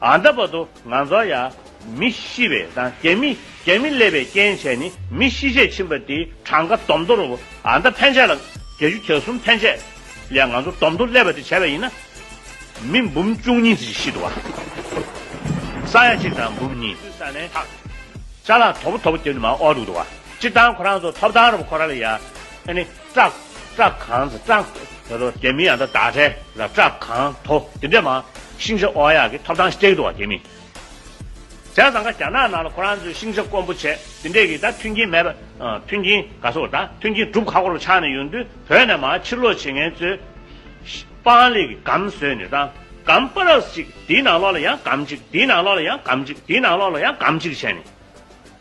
ཨ་འདབ་པ་དུ་ང་ཚོ་ཡང་མི་ཤི་བའི་དང་རྒྱ་མི་རྒྱ་མི་སླེབས་པའི་རྐྱེན་བྱས་ནི་མི་ཤི་ཆད་ཕྱིན་པ་དེའི་གྲངས་ཀ་དོམ་དུར་ཨ་འདབ་ཕན་ཆད་ལ་བརྒྱད་ཅུ་གྱ་གསུམ་ཕན་ཆད་ལས་ང་ཚོ་དོམ་དུར་སླེབས་པ་དེ་བྱས་པ་ཡིན་ན། མི་འབུམ་བཅུ་གཉིས་ཚིག་ཤི་འདུག་བ། ས་ཡ་གཅིག་དང་འབུམ་གཉིས། སུད་ས་ནས་ཐག་ཆ་ལ་དོ་པོ་དོ་པོ་རྒྱབ་ནི་མ་ཨོ་འདུག་བ། སྤྱིར་བཏང་ཁོ་རང་ཚོ་ཐོབ་ཐང་རུ་པ་ཁོ་རང་ལ་ཡ་ཨ་ནི། སྐྲག། སྐྲག་གང། སྐྲག། ད་དོ། དེ་མིན་ཡང་ད་དག་ཁྲལ། ར་སྐྲག་གང། དོ། དེ་འདྲས་མང། ཤིང་བྱ་ཨོ་ཡག་གི་ཐོབ་ཐང་སྤྲེགས་འདུག་བ་དེ་མིན། བྱ་བཟང་ཁ་རྒྱ་ནག་ནང་ལ་ཁོ་རང་ཚོའི་ཤིང་བྱ་དཀོན་པོ་བྱས་དེ་འདྲས་གི་ད་མཐུན་རྐྱེན་མེད་པ། མཐུན་རྐྱེན་ག་ཚོད་ད་མཐུན་རྐྱེན་སྒྲུབ་ཁ་ཁོ་རང་ཆགས་ནས་ཡོང་དུས་བོད་ནས་མང་ཕྱིར་ལོག་བྱེད་མཁན་ཚོས། སྤང་ལེགས་གི་སྒམ་བཟོས་ནས་ད་སྒམ་པ་རགས་གཅིག་དེའི་ནང་ལོག་ལ་ཡང་སྒམ་གཅིག་དེའི་ནང་ལོག་ལ་ཡང་སྒམ་གཅིག་དེའི་ནང་ལོག་ལ་ཡང་སྒམ་གཅིག་བྱས་ནས།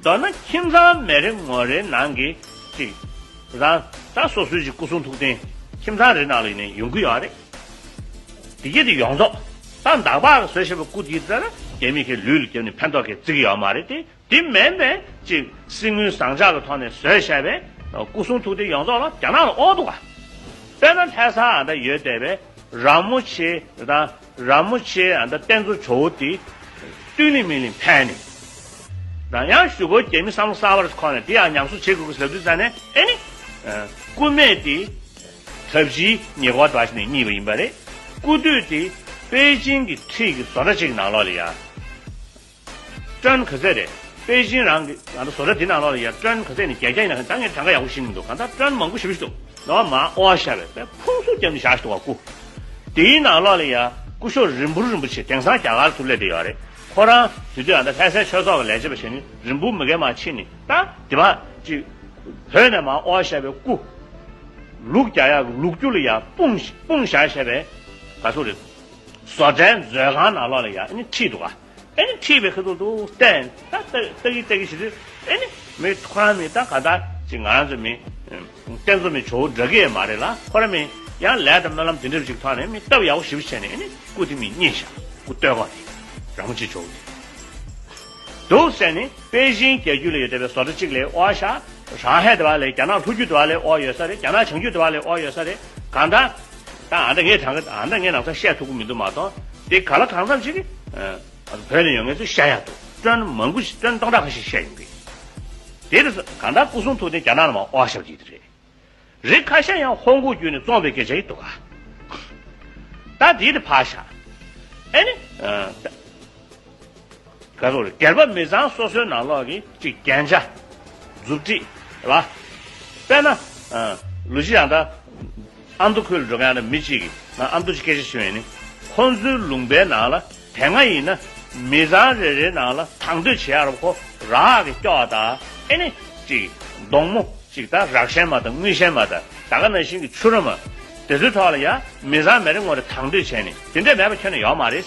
མདོར་ན་ཁྱིམ་ཚང་མེ་རི་ངོ་རེའི་ནང་གི་གཅིག། རང་རང་སོ་སོའི་གཅིག་སྐུ་གསུང་ཐུགས་རྟེན་ཁྱིམ་ཚང་རེའི་ནང་ལ་ཡོང་གི་ཡོད་པ་རེད། དེ་རྗེས་དེ་ཡོངས་རྫོགས་སྟངས་འདག་པར་བཟོས་ཞེས་པའི་སྐུ་དེའི་རྩ་ར་རྒྱ་མི་ཁའི་ལུས་ལ་བརྒྱབ་ནས་ཕན་ཐོགས་གིས་བརྩི་གི་ཡོད་མ་རེད་དེ། དེ་མིན་པའི་གཅིག་གསེར་དངུལ་ཟངས་ལྕགས་ལ་ཐོགས་ནས་བཟོས་ཞེས་པའི་སྐུ་གསུང་ཐུགས་རྟེན་ཡོངས་རྫོགས་ལ་རྒྱ་ནག་ལ་ཨོ་འདུག་ག། དཔེར་ན་ལྷས་ས་འདི་ཡོད་བསྡད་པའི་ར་མོ་ཆེ་དང། ར་མོ་ཆེའི་ཨ་མདའ་བསྟན་འཛོ་ཇོ་བོ་དེ། བཏུལ་ནི་མི་ལིང་ཕན་ནི། རང་ཡང་ཞུ་བོ་རྒྱལ་མི་བསམ་བློ་གསར་བ་རེ་ཁོ་ནས་དེ་ཡང་ཉམས་གསོ་བྱེད་དགོས་གི་ཟབ་དུས་ཙ་ནས་ཨེ་ནི། སྐུ་སྨད་དེ། ཐབས་བཞི་ཉེ་བར་དྲ་ཞིག་ནས་རྙིད་པ་ཡིན་པ་རེད། སྐུ་དུས་དེ། པེ་ཅིང་གི་འཁྲིས་ཀི་བཟོ་འདྲ་ཅིག་གི་ནང་ལོག་ལི་ཡ། ཀྲོན་གྷི་ཟེ་རེད། པེ་ཅིན་རང་གི་ང་ཚོ་བཟོ་གྲྭ་འདི་ནང་ལོགས་ལ་ཡོད་ཀྲོན་གྷི་ཟེ་ནི་རྒྱལ་སྐྱངས་ཡིན་ན་ད་ངས་གྲངས་ཀ་ཡག་པོ་ཤེས་མི་འདུག་གང་ལྟར་ཀྲོན་མང་པོ་ཞིབ་འདུག་ནོར་བ་མ་ཨོ་ཨ་ཤ་བའི་པའི་ཕུང་སུ་རྒྱབ་ནས་བཞག་འདུག་བ་སྐུ། དེའི་ནང་ལོགས་ལ་ཡ་སྐུ་ཤོག་རིན་འབུར་རིན་པོ་ཆེ་དེང་སང་རྒྱ་གར་དུ་སླེབས་བསྡད་ཡོད་རེད་ཁོ་རང་དུས་དུས་ཡང་ད་ལྷས་སའི་ཆོས་ཚོགས་ཀྱི་ལས་བྱེད་པ་ཞིག་ནི་རིན་འབུར་མི་རྒན་མ་ཕྱིན་ནི་ད་དེ་མ་ཅིག། བོད་ནས་མ་ཨོ་ཨ་ཤ་བའི་སྐུ། ལུག་རྒྱ་ཡག་གི་ལུག་རྒྱུ་ལ་ཡ་སྤུངས་ཞག་ཞེས་པའི་བ་སུ་རེད། བཟོ་གྲྭའི་མཛོད་ཁང་ནང་ལོགས་ལ་ཡ་ཨ་ནི་ཁྲིད་འདུག་ག། ཨེ་ཁྲིད་པའི་ཁ་ཐུག་ཏུ་བསྟན། ད་ལྟ་གི་ལྟ་གི་ཞིག་རེད། ཨེ་ནི། མོའི་ཐུགས་ཁང་ནི་ད་ག་ད་ཅིག་ང་རང་ཚོའི་མི། བསྟན་འཛོམས་མི་ཇོ་བོ་འདྲ་གི་མ་རེད་ལ་ཁོ་ར་མི། ཡང་ལས་དང་སྨོན་ལམ་དེ་འདྲ་བ་ཞིག་ཐོག་ནས་མི་སྟབས་ཡག་པོ་ཞིབ་བྱས་ནས་ཨེ་ནི་སྐུ་དེ་མི་རྙེད་ཤག་སྐུ་སྟོད་གོང་དེ། ར་མོ་ཆེ་ཇོ་བོ་དེ། འདུག་བསད་ནི་པེ་ཅིན་རྒྱལ་རྒྱུད་ལ་ཡོད་བསྡད་པའི་བཟོ་གྲ་ཅིག་ལས་ཨོ་ཨ་ཤག་རང་ཧེ་དེ་བ་ལས་རྒྱ་ནག་ལྷོ་རྒྱུད་དེ་བ་ལས་ཨོ་ཡོད་ས་རེད་རྒྱ་ནག་བྱང་རྒྱུད་དེ་བ་ལས་ཨོ་ཡོད་ས་རེད་གང་ད། ད་ང་འདྲ་ངས་དྲང་གི་ཨ་མདའ་ངས་ནང་ཚ་བཤད་ཐུབ་གི་མི་འདུག་མ་གཏོགས་དེ་ག་ལ་གང་འཚམས་ཞིག་གིས་བོད་ནས་ཡོང་མཁན་ཚོས་བཤད་ཡག་འདུག་སྐྲོན་མང་པོ་ཞིག་སྐྲོན་སྟོང་ཕྲག་ཁ་ཤས་བཤད་ཡོང་གི་ཡོད་དེ་ཚོ་གང་འདྲ་སྐུ་གསུང་ཐུགས་རྟེན་རྒྱ་ནག་ལ་མ་དབོག་ཞབས་ཀྱི་རེད་རེད་ཁ་ཤས་ཡང་ཧོང་ཀོང་བརྒྱུད་ནས་བཙོངས་པའི་སྐད་ཆ་ཡིན་འདུག་ག་ད་དེའི་དེ་ཕ་ཞག་ཨེ་ནི། བཀའ་འོག་གྱེར་པ་མི་ཚང་སོ་སོའི་ནང་ལོག་གིས་གཅིག་རྐྱེན་ཆ། མཛུབ་དཀྲིས། ལ། པས་ན། ལུས་གཅིག་ཡང་དག། ཨ་མདོ་ཁུལ་ལ་འགྲོ་མཁན་ཡང་དག་མི་གཅིག་གིས་ང་ཨ་མདོ་ཆེ་སྐད་ཆ་བྱེད་མཁན་ནི། ཁོ་ཚོའི་ལུང་པའི་ནང་ལ་དེ་སྔ་ཡིན་ན། མི་ཚང་རེ་རེའི་ནང་ལ་དང་དོད་བྱེད་ཨ་རབ་ཁོ་རག་གིས་སྐྱོ་བ་དང་ཨེ་ནི། གཅིག། གདོང་མོ། གཅིག་དང་རག་ཤན་མ་དང་དངུལ་ཤན་མ་དང་ད་ག་ན་བཞིན་གྱི་ཆུ་རོ་མ། དེ་ཚོའི་ཐོག་ལ་ཡང་མི་ཚང་མེ་རེ་ངོ་རེ་དང་དོད་བྱས་ནི་དེ་འདྲས་མེད་པ་ཁྱོན་ན་ཡོག་མ་རེད།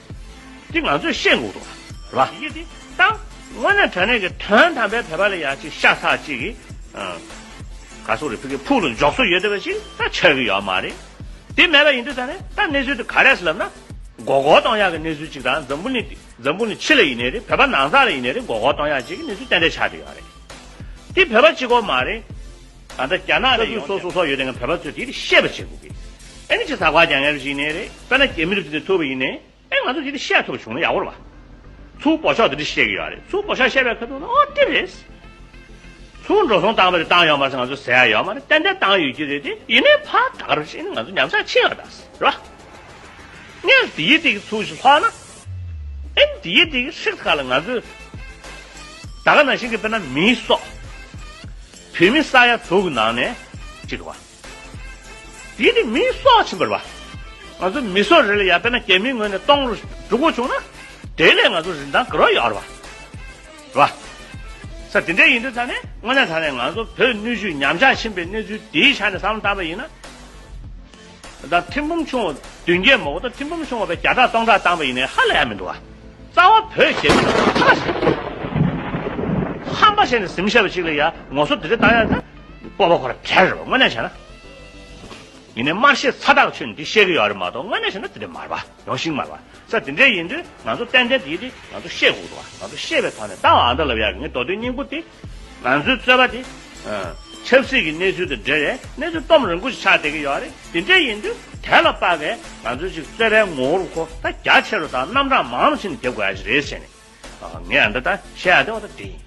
འདི་ང་ཚོས་ཤེས་དགོས་འདུག་ལ། ཡི་གེ་འདི་བཏང། དངོས་གནས་དྲ་གནས་ཀྱི་དོན་དམ་པའི་བེད་པ་ལས་ཡག་ཅིག་ཤ་ཚ་ཅིག་གི། ག་སོག་རི་ཕུག་གི་ཕུག་ལ་འཇོག་སྲོལ་ཡོད་བསྡད་པ་ཞིག་ད་ཆགས་ཀྱི་ཡོད་མ་རེད། དེ་མེད་པ་ཡིན་དུས་ད་ནས་ད་གནས་ཚུལ་དེ་ག་རེད་ཟེར་ལབ་ན། མགོ་སྐོར་གཏོང་ཡག་གི་གནས་ཚུལ་ཅིག་ད་འཛམ་བུ་ནི་འདི་འཛམ་བུ་ནི་ཕྱི་ལ་ཡིན་ནའི་རེད་བོད་པ་ནང་ཚ་ལ་ཡིན་ནའི་རེད་མགོ་སྐོར་གཏོང་ཡག་ཅིག་གི་གནས་ཚུལ་ཏན་ཏན་ཆགས་ཀྱི་ཡོད་རེད། འདི་བོད་པ་གཅིག་གོ་མ་རེད། ད་ལྟ་རྒྱ་ནག་ནས་ཡོང་སྟེ། ས་ཁུལ་སོ་སོ་སོགས་ཡོད་དེ་བའི་བོད་པ་ཚོས་དེ་རིགས་ཤེས་པ་བྱེད་དགོས་གི། ཨེ་ནི་ཆེས་ཟ་ཁ་རྒྱག་ངེས་པ་ཞིག་ནི་རེད། དཔེར་ན་རྒྱ་མི་རིགས་ཚོས་དེ་ཐུབ་པ་ཡིན་ནི། ཨེ་ང་ཚོས་དེ་རིགས་ཤེས་ཐུབ་བྱུང་ན་ཡག་པོ་རེད་བ། ཚུར་བོ་ཤོག་དེ་རིགས་ཤེས་ཀྱི་ཡོད་རེད། ཚུར་བོ་ཤོག་ཤེས་པའི་ཁ་ཐུག་ནི་ཨོ་དེ་རེད། ཚུར་འགྲོ་སོང་བཏང་པ་དེ་བཏང་ཡོད་མ་རེད་ང་ཚོས་ཟས་ཡག་ཡོད་མ་རེད་ཏན་ཏན་བཏང་ཡོད་ཀྱི་རེད་དེ། ཡིན་ནི་ཕ་ད་ག་རེ་བྱས་ཨེ་ནི་ང་ཚོ་ཉམས་ཆག་ཆེ་ཡོད་རེད་བ། རེད་བ། ངས་དེ་ཡི་དེ་གི་ཚུར་ཞིག་ལྷོག་ན། ཨེ་ནི་དེ་ཡི་དེ་གི་ཧྲིག་ཐག་ལ་ང་ཚོས། ད་ག་ན་བཞིན་གི་དཔེར་ན་མིའི་སྲོག། བུད་མེད་ས་ཡ་དྲུག་ནང་ནས་གཅིག་བ། དེ་ནི་མི་སྲོག་ཆེན་པོ་རེད་པ། ང་ཚོའི་མི་སྲོག་རེད་ལ་ཡར་བལྟས་ན་རྒྱ་མིའི་ངོས་ནས་སྟོང་རུ་འགྲོ་དགོས་བྱུང་ན། དེ་ལས་ང་ཚོ་རིན་ཐང་ག་རོག་ཡོད་རེད་པ། རེད་པ། ས་དེ་འདྲས་ཡིན་དུས་ད་ནི་དངོས་གནས་ད་ནི་ང་ཚོ་བོད་ནུས་ཤུགས་ཉམས་ཆག་ཕྱིན་པའི་གནས་ཚུལ་དེའི་ཆ་ནས་བསམ་བློ་བཏང་བ་ཡིན་ན། ཟླ་ཐེམ་འབུམ་ཆུང་བདུན་བརྒྱད་མོག་ཟླ་ཐེམ་འབུམ་ཆུང་བ་བས་བརྒྱ་ཕྲག་སྟོང་ཕྲག་བཏང་བ་ཡིན་ནའི་ཧ་ལས་ཡ་མི་འདུག་ཨ། རྩ་བ་བོད་ཞེས་པའི་ནང་དུ་ཁ་བ་ཞེས། ཧམ་པ་ཞེས་ནས་གཟིམ་ཤར་བ་ཞིག་ལ་ཡ་ངོ་སོ་དེ་རིགས་བཏང་ཡ་ན། སྤོབས་པ་ཁོ་ར་བྲལ་རེད་བ་དངོས་གནས་བྱས་ན། ཡིན་ནའི་དམར་ཤེས་ཚ་ཐག་ཆོད་འདི་བཤད་གི་ཡོད་རེད་མ་གཏོགས་དངོས་གནས་བྱས་ན་དེ་འདྲའི་མ་རེད་བ། ཡོང་ཞིག་མ་ལ། ས་དེ་འདྲའི་ཡིན་དུས་ང་ཚོ་ཏན་ཏན་དེའི་རིགས་ང་ཚོ་ཤེས་དགོས་བ། ང་ཚོ་ཤེས་པའི་ཐོག་ནས་ཏང་ཨ་མདོ་ལ་བཡག་གི་ངའི་མདོ་སྟོད་སྙིང་པོ་དེ། ང་ཚོའི་རྩོད་པ་དེ། ཆབ་སྲིད་ཀྱི་གནས་ཚུལ་དང་འབྲེལ་བའི་གནས་ཚུལ་སྟོམ་རིང་པོ་ཞིག་ཆགས་བསྡད་ཀྱི་ཡོད་བ་རེད་དེ་འདྲའི་ཡིན་དུས་དེ་ལ་དཔག་པའི་ང་ཚོའི་ཞིག་རྩོད་པའི་ངོ་བོར་ཁོ་ད་རྒྱ་ཆེ་རུ་དང་རྣམ་གྲངས་མང་རུ་ཕྱིན་ནས་བསྡད་དགོས་ཡ་ཞིག་རེད་ཟེར་ནས། ངས་འདི་ལྟར་བཤད་ཡ་བདེ་བ་དང་དེ་ཡིན།